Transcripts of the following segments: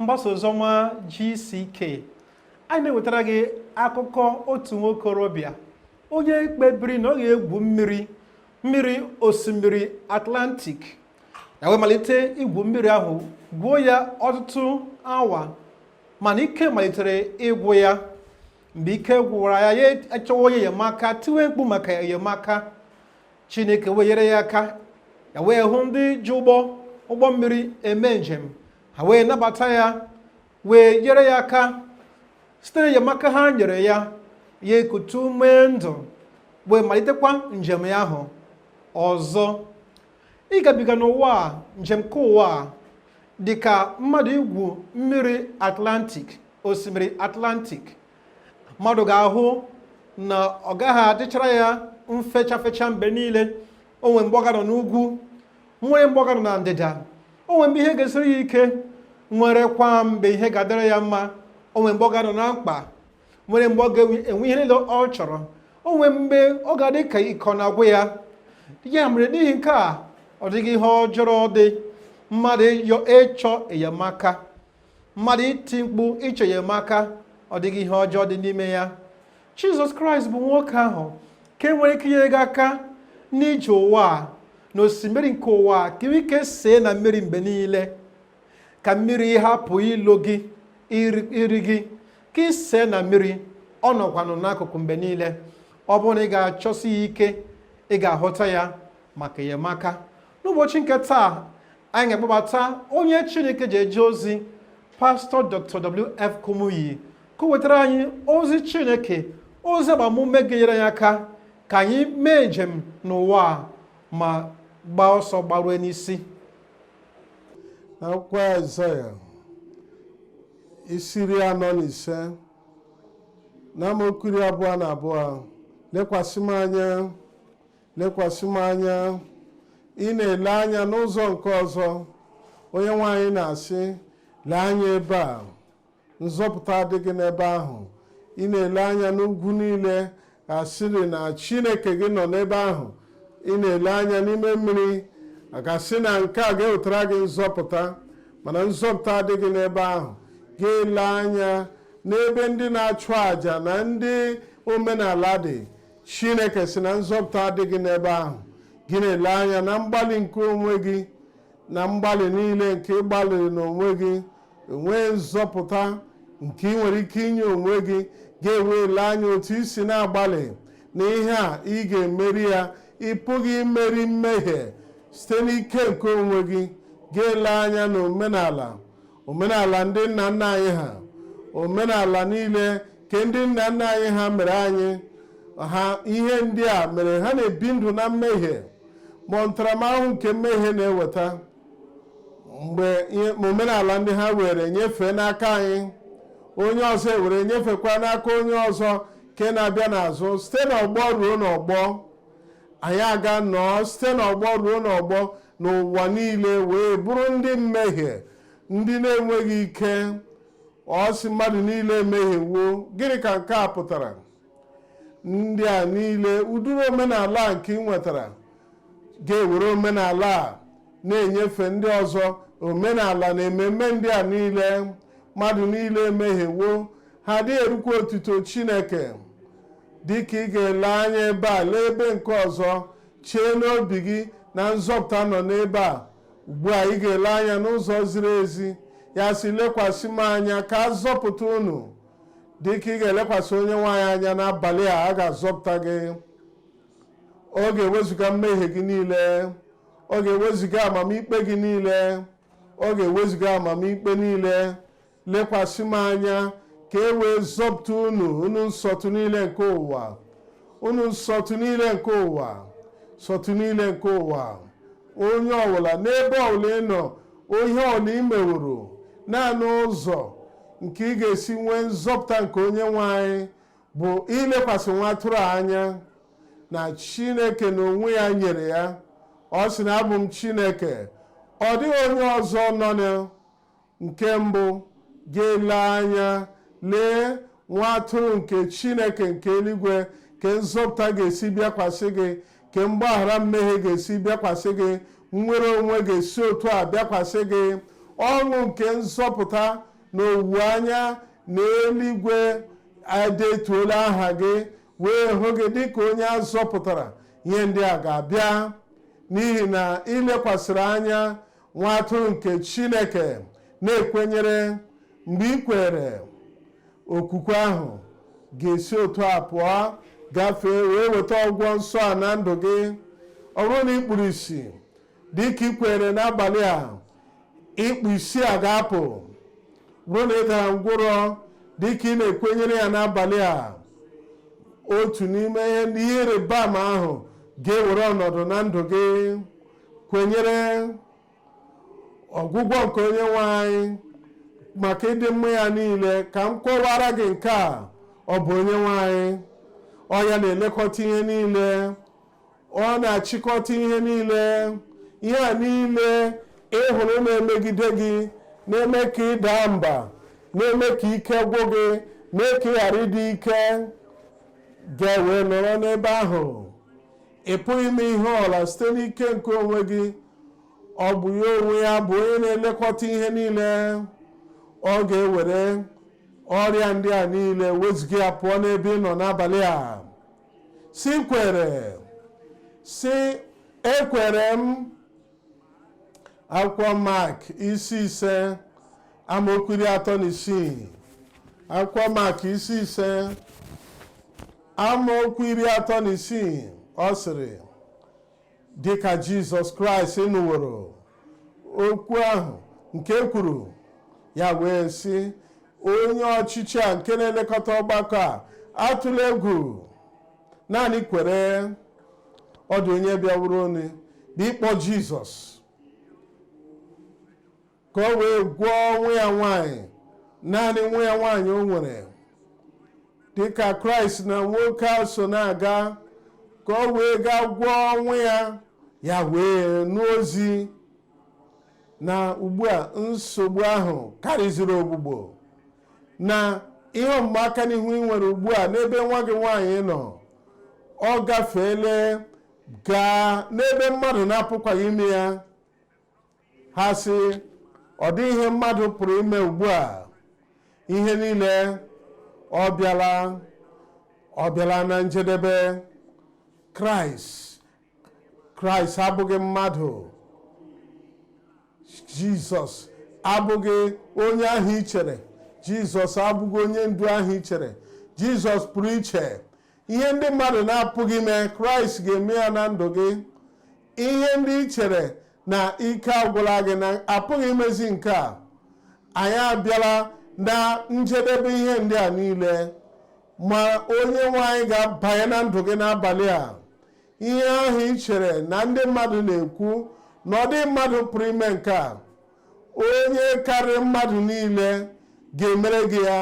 mgbasa oziọma GCK anyị na-ewetara gị akụkọ otu nwokorobịa onye kpebiri na ọ ga-egwu mmiri mmiri osimiri Atlantic ya wee malite igwu mmiri ahụ gwuo ya ọtụtụ awa mana ike malitere ịgwụ ya mgbe ike gwụwara ya ya achọwa onye enyemaka tiwe mkpu maka enyemaka Chineke wee nyere ya aka ya wee hụ ndị ji ụgbọ ụgbọ mmiri eme njem ha wee nabata ya wee nyere ya aka site n'enyemaka ha nyere ya ya ekutu ume ndụ wee malitekwa njem ya ahụ ọzọ ịgabiga n'ụwa a njem nke ụwa a dị ka mmadụ igwu mmiri atlantik osimiri atlantik mmadụ ga-ahụ na ọ gaghị adịchara ya mfecha fecha mgbe niile o nwere mgbe ọ ga-anọ n'ugwu nwere mgbe ọ ga-anọ na ndịda o nwere mgbe ihe ga-esiri ya ike nwerekwa mgbe ihe ga-adịrị ya mma o nwere mgbe ọ ga-anọ na mkpa nwere mgbe ọ ga-enwe ihe niile ọ chọrọ o nwere mgbe ọ ga-adị ka ike ọ na-agwụ ya ya mere n'ihi nke a ọ dịghị ihe ọjọọ dị mmadụ ịyọ ịchọ enyemaka mmadụ iti mkpu ịchọ enyemaka ọ dịghị ihe ọjọọ dị n'ime ya jizọs kraịst bụ nwoke ahụ nke nwere ike inyere gị aka n'ije ụwa a na osimiri nke ụwa a ka i nwee ike see na mmiri mgbe niile ka mmiri hapụ ilo gị iri gị ka i see na mmiri ọ nọkwanụ n'akụkụ mgbe niile ọ bụrụ na ị ga-achọsi ya ike ị ga-ahụta ya maka enyemaka n'ụbọchị nke taa anyị ga-akpọbata onye chineke ji eje ozi pastọ dr wf kumuyi ka o wetara anyị ozi chineke ozi agbamume ga-enyere anyị aka ka anyị mee njem n'ụwa a ma gbaa ọsọ gbarue n'isi n'akwụkwọ aịzaya isi iri anọ na ise na amaokwu iri abụọ na abụọ lekwasị m anya lekwasị m anya ị na-ele anya n'ụzọ nke ọzọ onyenwe anyị na-asị lee anya ebe a nzọpụta adịghị n'ebe ahụ ị na-ele anya n'ugwu niile a sịrị na chineke gị nọ n'ebe ahụ ị na-ele anya n'ime mmiri a ga-asị na nke a ga-ewetara gị nzọpụta mana nzọpụta adịghị n'ebe ahụ gị elee anya n'ebe ndị na-achụ àjà na ndị omenala dị chineke sị na nzọpụta adịghị n'ebe ahụ gị na-ele anya na mgbalị nke onwe gị na mgbalị niile nke ị gbalịrị n'onwe gị enwee nzọpụta nke ị nwere ike inye onwe gị gị ewee lee anya otu i si na-agbalị na ihe a ị ga-emeri ya ị pụghị imeri mmehie site n'ike nke onwe gị gị elee anya na omenala omenala ndị nna nna anyị ha omenala niile nke ndị nna nna anyị ha mere anyị ha ihe ndị a mere ha na-ebi ndụ na mmehie ma ntaramahụhụ nke mmehie na-eweta mgbe omenala ndị ha were nyefee n'aka anyị onye ọzọ ewere nyefekwa n'aka onye ọzọ nke na-abịa n'azụ site n'ọgbọ ruo n'ọgbọ anyị aga nọọ site n'ọgbọ ruo n'ọgbọ n'ụwa niile wee bụrụ ndị mmehie ndị na-enweghị ike ọ sị mmadụ niile emehiewo gịnị ka nke a pụtara ndị a niile ụdịrị omenala a nke ị nwetara ga-ewere omenala a na-enyefe ndị ọzọ omenala na ememme ndị a niile mmadụ niile emehiewo ha adịghị erukwa otuto chineke dịka ị ga-ele anya ebe a lee ebe nke ọzọ chee n'obi gị na nzọpụta nọ n'ebe a ugbu a ị ga-ele anya n'ụzọ ziri ezi ya sị lekwasị m anya ka a zọpụta unu dịka ị ga-elekwasị onye nwe anyị anya n'abalị a a ga-azọpụta gị ọ ga-ewezụga mmehie gị niile ọ ga-ewezụga amamikpe gị niile ọ ga-ewezụga amamikpe niile lekwasị m anya ka e wee zọpụta unu unu nsọtụ niile nke ụwa unu nsọtụ niile nke ụwa nsọtụ niile nke ụwa onye ọbụla n'ebe ọbụla ị nọ ihe ọbụla ị meworo naanị ụzọ nke ị ga-esi nwee nzọpụta nke onye nwe anyị bụ ilekwasị nwa atụrụ a anya na chineke na onwe ya nyere ya ọ sị na abụ m chineke ọ dịghị onye ọzọ nọ na nke mbụ ga-ele anya lee nwa atụrụ nke chineke nke eluigwe ka nzọpụta ga-esi bịakwasị gị ka mgbaghara mmehie ga-esi bịakwasị gị nnwere onwe ga-esi otu a bịakwasị gị ọṅụ nke nzọpụta na owuwe anya na eluigwe edetuola aha gị wee hụ gị dịka onye a zọpụtara ihe ndị a ga-abịa n'ihi na ị lekwasịrị anya nwa atụrụ nke chineke na-ekwenyere mgbe ị kwere okwukwe ahụ ga-esi otu a pụọ gafee wee weta ọgwụgwọ nsọ a na ndụ gị ọ bụrụ na ị kpuru isi dị ka ị kwere n'abalị a ikpu isi a ga-apụ bụrụ na ị dara ngwụrọ dị ka ị na-ekwenyere ya n'abalị a otu n'ime ihe ịrịba ama ahụ ga-ewere ọnọdụ na ndụ gị kwenyere ọgwụgwọ nke onye nwe anyị maka ịdị mma ya niile ka m kọwara gị nke a ọ bụ onye nwe anyị ọ ya na-elekọta ihe niile ọ na-achịkọta ihe niile ihe a niile ị hụrụ na-emegide gị na-eme ka ị daa mba na-eme ka ike gwụ gị mee ka ị ghara ịdị ike gị ewee nọrọ n'ebe ahụ ị pụghị ime ihe ọ bụla site n'ike nke onwe gị ọ bụ ya onwe ya bụ onye na-elekọta ihe niile ọ ga-ewere ọrịa ndị a niile wezụga ya pụọ n'ebe ị nọ n'abalị a sị kwere sị ekwere m akwụkwọ mak isi ise amaokwu iri atọ na isii akwụkwọ mak isi ise amaokwu iri atọ na isii ọ sịrị dịka jizọs kraịst nụworo okwu ahụ nke e kwuru ya wee sị onye ọchịchị a nke na-elekọta ọgbakọ a atụla egwu naanị kwere ọ dị onye bịaworo onye bụ ịkpọ jizọs ka o wee gwọọ nwa ya nwanyị naanị nwa ya nwanyị o nwere dịka kraịst na nwoke a so na-aga ka o wee gaa gwọọ nwa ya ya wee nụ ozi na ugbu a nsogbu ahụ karịziri ọgwụgwọ na ihe ọmụma aka n'ihu ị nwere ugbu a n'ebe nwa gị nwaanyị nọ ọ gafeele gaa n'ebe mmadụ na-apụkwaghị ime ya ha sị ọ dịghị ihe mmadụ pụrụ ime ugbu a ihe niile ọ bịala ọ bịala na njedebe kraịst kraịst abụghị mmadụ jizọs abụghị onye ahụ i chere jizọs abụghị onye ndu ahụ i chere jizọs pụrụ iche ihe ndị mmadụ na-apụghị ime kraịst ga-eme ya na ndụ gị ihe ndị i chere na ike agwụla gị na a pụghị imezi nke a anyị abịala na njedebe ihe ndị a niile ma onye nwe anyị ga-abanye na ndụ gị n'abalị a ihe ahụ i chere na ndị mmadụ na-ekwu na ọ dịghị mmadụ pụrụ ime nke a onye karịrị mmadụ niile ga-emere gị ya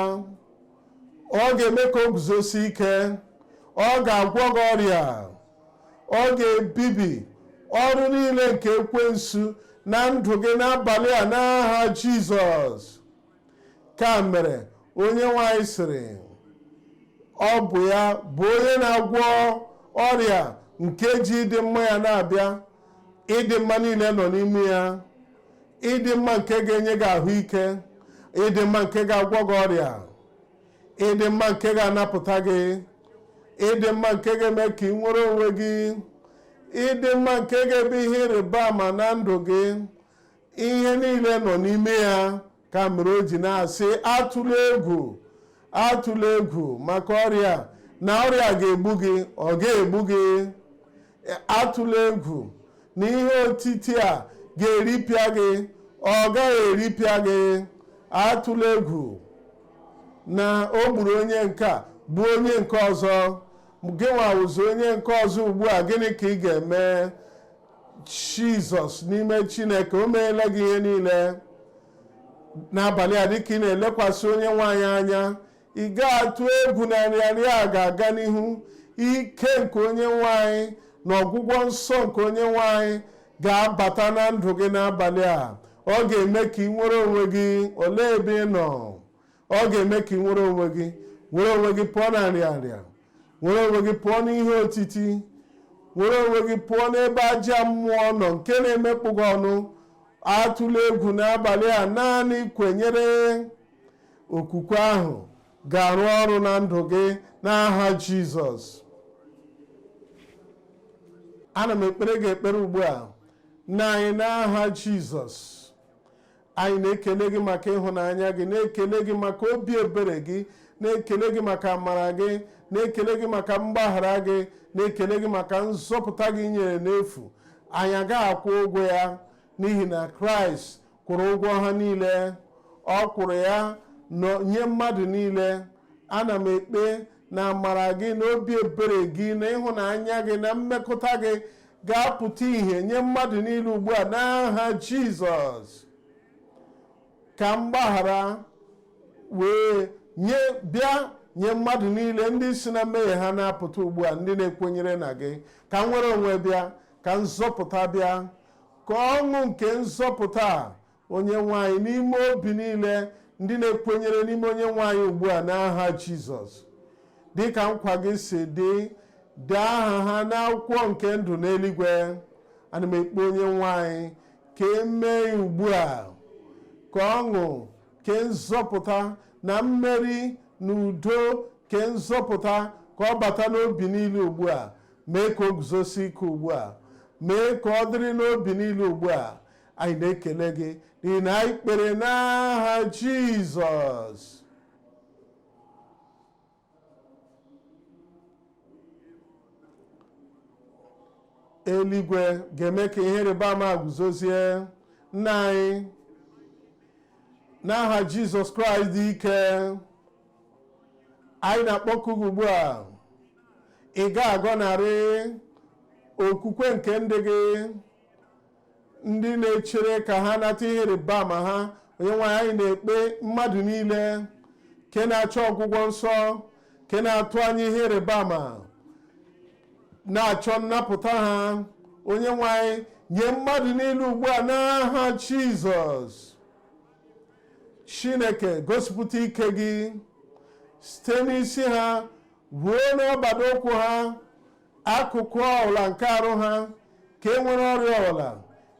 ọ ga-eme ka o guzosie ike ọ ga-agwọ gị ọrịa ọ ga-ebibi ọrụ niile nke ekwensu na ndụ gị n'abalị a n'aha jizọs ka mere onyenwe anyị sịrị ọ bụ ya bụ onye na-agwọ ọrịa nke ji ịdị mma ya na-abịa ịdị mma niile nọ n'ime ya ịdị mma nke ga-enye gị ahụike ịdị mma nke ga-agwọ gị ọrịa ịdị mma nke ga-anapụta gị ịdị mma nke ga-eme ka ị nwere onwe gị ịdị mma nke ga-eme ihe ịrịba ama na ndụ gị ihe niile nọ n'ime ya ka mere o ji na-asị atụla egwu atụla egwu maka ọrịa na ọrịa ga-egbu gị ọ gaghị egbu gị atụla egwu na ihe otiti a ga-eripịa gị ọ gaghị eripịa gị atụla egwu na o gburu onye nke a gbuo onye nke ọzọ gị nwa wụzi onye nke ọzọ ugbu a gịnị ka ị ga-eme jizọs n'ime chineke o meela gị ihe niile n'abalị a dịka ị na-elekwasị onyenwe anyị anya ị gaghị atụ egwu na nrịanrịa a ga-aga n'ihu ike nke onyenwe anyị na ọgwụgwọ nsọ nke onyenwe anyị ga-abata na ndụ gị n'abalị a ọ ga-eme ka ị nwere onwe gị olee ebe ị nọ ọ ga-eme ka ị nwere onwe gị nwere onwe gị pụọ na nrịanrịa nwere onwe gị pụọ n'ihe otiti nwere onwe gị pụọ n'ebe ajọ mmụọ nọ nke na-emekpọ gị ọnụ atụla egwu n'abalị a naanị kwenyere okwukwe ahụ ga-arụ ọrụ na ndụ gị n'aha jizọs ana m ekpere gị ekpere ugbu a nna anyị n'aha jizọs anyị na-ekele gị maka ịhụnanya gị na-ekele gị maka obi ebere gị na-ekele gị maka amara gị na-ekele gị maka mgbaghara gị na-ekele gị maka nzọpụta gị i nyere n'efu anyị agaghị akwụ ụgwọ ya n'ihi na kraịst kwụrụ ụgwọ ha niile ọ kwụrụ ya nye mmadụ niile ana m ekpe na amara gị na obi ebere gị na ịhụnanya gị na mmekọta gị ga-apụta ihe nye mmadụ niile ugbu a n'aha Jizọs ka mgbaghara wee bịa nye mmadụ niile ndị si na mmehie ha na-apụta ugbu a ndị na-ekwenyere na gị ka nnwere onwe bịa ka nzọpụta bịa ka ọṅụ nke nzọpụta onyenwe anyị n'ime obi niile ndị na-ekwenyere n'ime onyenwe anyị ugbu a n'aha jizọs dị ka nkwa gị si dị dee aha ha n'akwụkwọ nke ndụ n'eluigwe ana m ekpe onyenwe anyị ka e mee ya ugbu a ka ọṅụ ke nzọpụta na mmeri na udo ke nzọpụta ka ọ bata n'obi niile ugbu a mee ka o guzosi ike ugbu a mee ka ọ dịrị n'obi niile ugbu a anyị na-ekele gị n'ihi na anyị kpere n'aha jizọs eluigwe ga-eme ka ihe ịrịba ama guzozie nna anyị n'aha jizọs kraịst dị ike anyị na-akpọku gị ugbu a ị ga-agọnarị okwukwe nke ndị gị ndị na-echere ka ha nata ihe ịrịba ama ha onye nwe anyị anyị na-ekpe mmadụ niile nke na-achọ ọgwụgwọ nsọ nke na-atụ anya ihe ịrịba ama na-achọ nnapụta ha onye nwe anyị nye mmadụ niile ugbu a n'aha jizọs chineke gosipụta ike gị site n'isi ha ruo n'ọbada ụkwụ ha akụkụ ọbụla nke arụ ha ka e nwere ọrịa ọbụla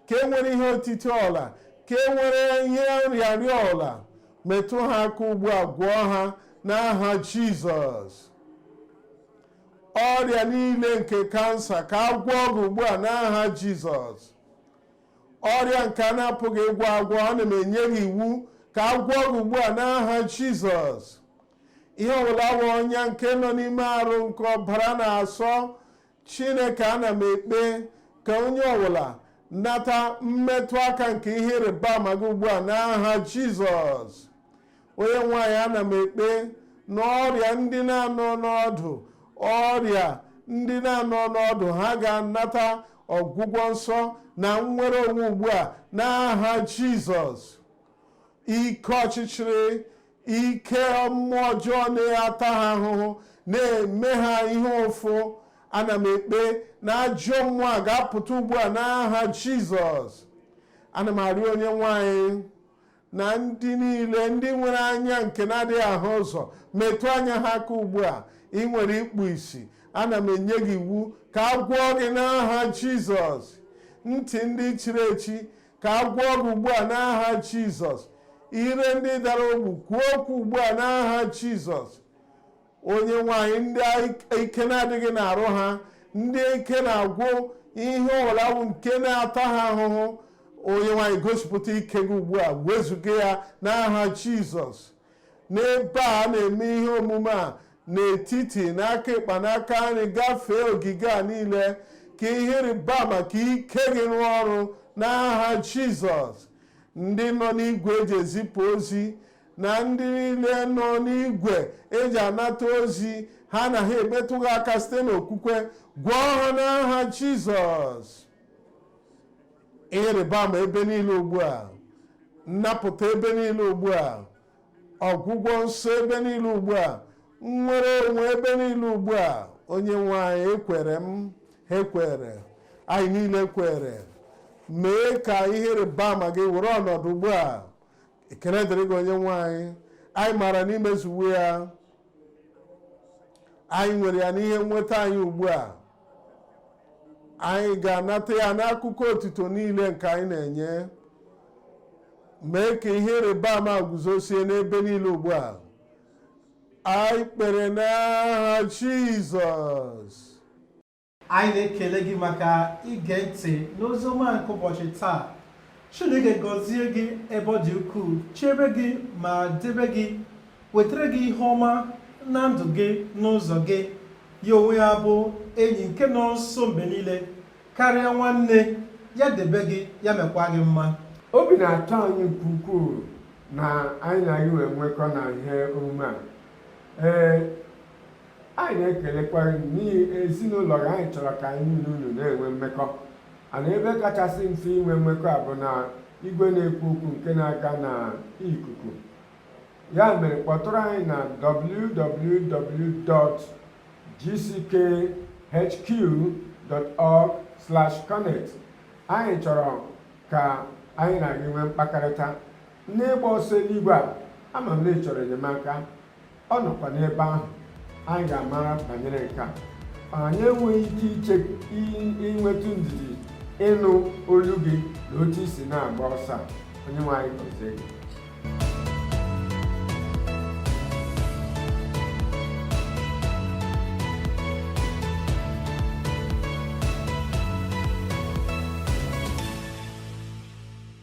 ka e nwere ihe otiti ọbụla ka e nwere ihe nrịanrịa ọbụla metụ ha aka ugbu a gwọọ ha n'aha jizọs ọrịa niile nke kansa ka a gwọọ gị ugbu a n'aha jizọs ọrịa nke a na-apụghị ịgwọ agwọ ana m enye gị iwu ka a gwọọ gị ugbu a n'aha jizọs ihe ọbụla bụ ọnya nke nọ n'ime arụ nke ọbara na-asọ chineke ana m ekpe ka onye ọbụla nata mmetụ aka nke ihe ịrịba ama gị ugbu a n'aha jizọs onye nwe anyị ana m ekpe na ọrịa ndị na-anọ n'ọdụ ọrịa ndị na-anọ n'ọdụ ha ga-anata ọgwụgwọ nsọ na nnwere onwe ugbu a n'aha jizọs ike ọchịchịrị ike mmụọ ọjọọ na-ata ha ahụhụ na-eme ha ihe ụfụ ana m ekpe na ajọ mmụọ a ga-apụta ugbu a n'aha jizọs ana m arịọ onye nwe anyị na ndị niile ndị nwere anya nke na-adịghị ahụ ụzọ metụ anya ha aka ugbu a ị nwere ikpu isi ana m enye gị iwu ka a gwọọ gị n'aha jizọs ntị ndị chiri echi ka a gwọọ gị ugbu a n'aha jizọs ire ndị dara ogbu kwuo okwu ugbu a n'aha jizọs onye nwe anyị ndị ike na-adịghị n'arụ ha ndị ike na-agwụ ihe ọwụla wụ nke na-ata ha ahụhụ onye nwe anyị gosipụta ike gị ugbu a wezuga ya n'aha jizọs n'ebe a na-eme ihe omume a n'etiti n'aka ịkpa n'aka nri gafee ogige a niile ka ihe ịrịba ama ka ike gị rụọ ọrụ n'aha jizọs ndị nọ n'igwe eji ezipụ ozi na ndị niile nọ n'igwe eji anata ozi ha na ha emetụ gị aka site n'okwukwe gwọọ ha n'aha jizọs ihe ịrịba ama ebe niile ugbu a nnapụta ebe niile ugbu a ọgwụgwọ nsọ ebe niile ugbu a nnwere onwe ebe niile ugbu a onye nwe anyị ekwere m ha ekwere anyị niile kwere mee ka ihe ịrịba ama gị were ọnọdụ ugbu a ekele dịrị gị onye nwe anyị anyị maara na i mezuwo ya anyị nwere ya n'ihe nweta anyị ugbu a anyị ga-anata ya n'akụkọ otito niile nke anyị na-enye mee ka ihe ịrịba ama guzosie n'ebe niile ugbu a anyị kpere n'aha Jizọs anyị na-ekele gị maka ige ntị n'ozi ọma nke ụbọchị taa chineke gọzie gị ebe ọ dị ukwuu chebe gị ma debe gị wetara gị ihe ọma na ndụ gị n'ụzọ gị ya onwe ya bụ enyi nke nọ nso mgbe niile karịa nwanne ya debe gị ya mekwa gị mma obi na-atọ anyị nke ukwuu na anyị na gị wee nwekọ na ihe omume a ee anyị na-ekelekwa n'ihi ezinụlọ gị anyị chọrọ ka anyị na unu na-enwe mmekọ a na ebe kachasị mfe inwe mmekọ a bụ na igwe na-ekwu okwu nke na-aga na ikuku ya mere kpọtụrụ anyị na www.gckhq.org/connect anyị chọrọ ka anyị na gị nwee mkpakọrịta n'ịgba ọsọ eluigwe a ama m na ị chọrọ enyemaka ọ nọkwa n'ebe ahụ anyị ga-amara banyere nke a anyị enweghị ike iche inwetụ ndidi ịnụ olu gị na otu i si na-agba ọsọ a onye nwe anyị gọzie gị